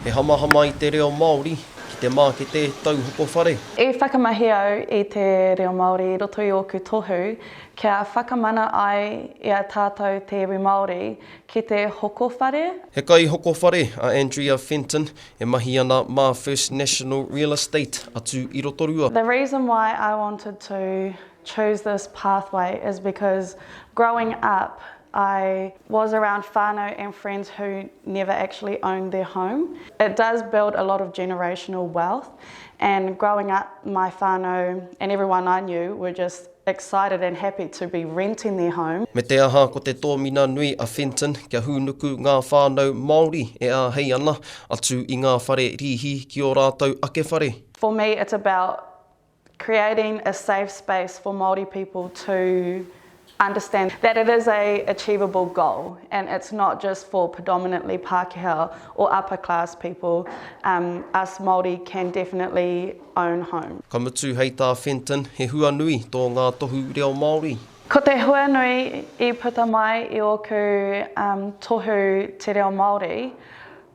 He hamahama i te reo Māori ki te mākete tauhoko whare. I whakamahi au i te reo Māori i roto i ōku tohu kia whakamana ai i a tātou te iwi Māori ki te hoko whare. He kaihoko whare a Andrea Fenton e mahi ana mā First National Real Estate atu i Rotorua. The reason why I wanted to chose this pathway is because growing up I was around whanau and friends who never actually owned their home. It does build a lot of generational wealth and growing up my whanau and everyone I knew were just excited and happy to be renting their home. Me te aha ko te tōmina nui a Fenton kia hūnuku ngā whānau Māori e āhei ana atu i ngā whare rīhi ki ō rātou ake whare. For me it's about creating a safe space for Māori people to understand that it is a achievable goal and it's not just for predominantly Pākehā or upper class people, um us Māori can definitely own home. Ka mutu, hei tā Fenton, he hua nui tō ngā tohu reo Māori. Ko te hua nui i puta mai i ōku um tohu te reo Māori,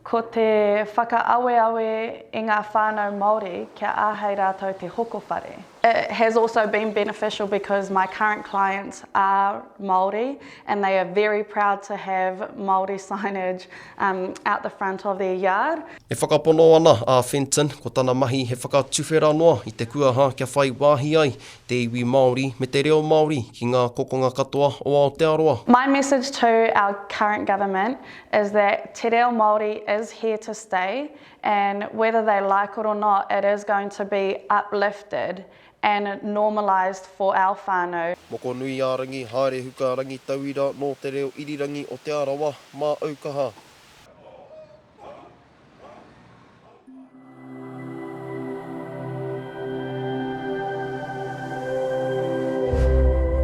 Ko te whakaaweawe i ngā whānau Māori kia āhei rātou te hoko whare. It has also been beneficial because my current clients are Māori and they are very proud to have Māori signage out the front of their yard. E whakapono ana a Fenton ko tana mahi he whakatuwhera noa i te kuaha kia whai wāhi ai te iwi Māori me te reo Māori ki ngā kokonga katoa o Aotearoa. My message to our current government is that te reo Māori is here to stay and whether they like it or not it is going to be uplifted and normalised for our whānau. Mokonuiārangi, haere huka rangitauira nō te reo irirangi o Te Arawa, māou kaha.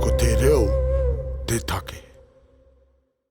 Ko te reo te take.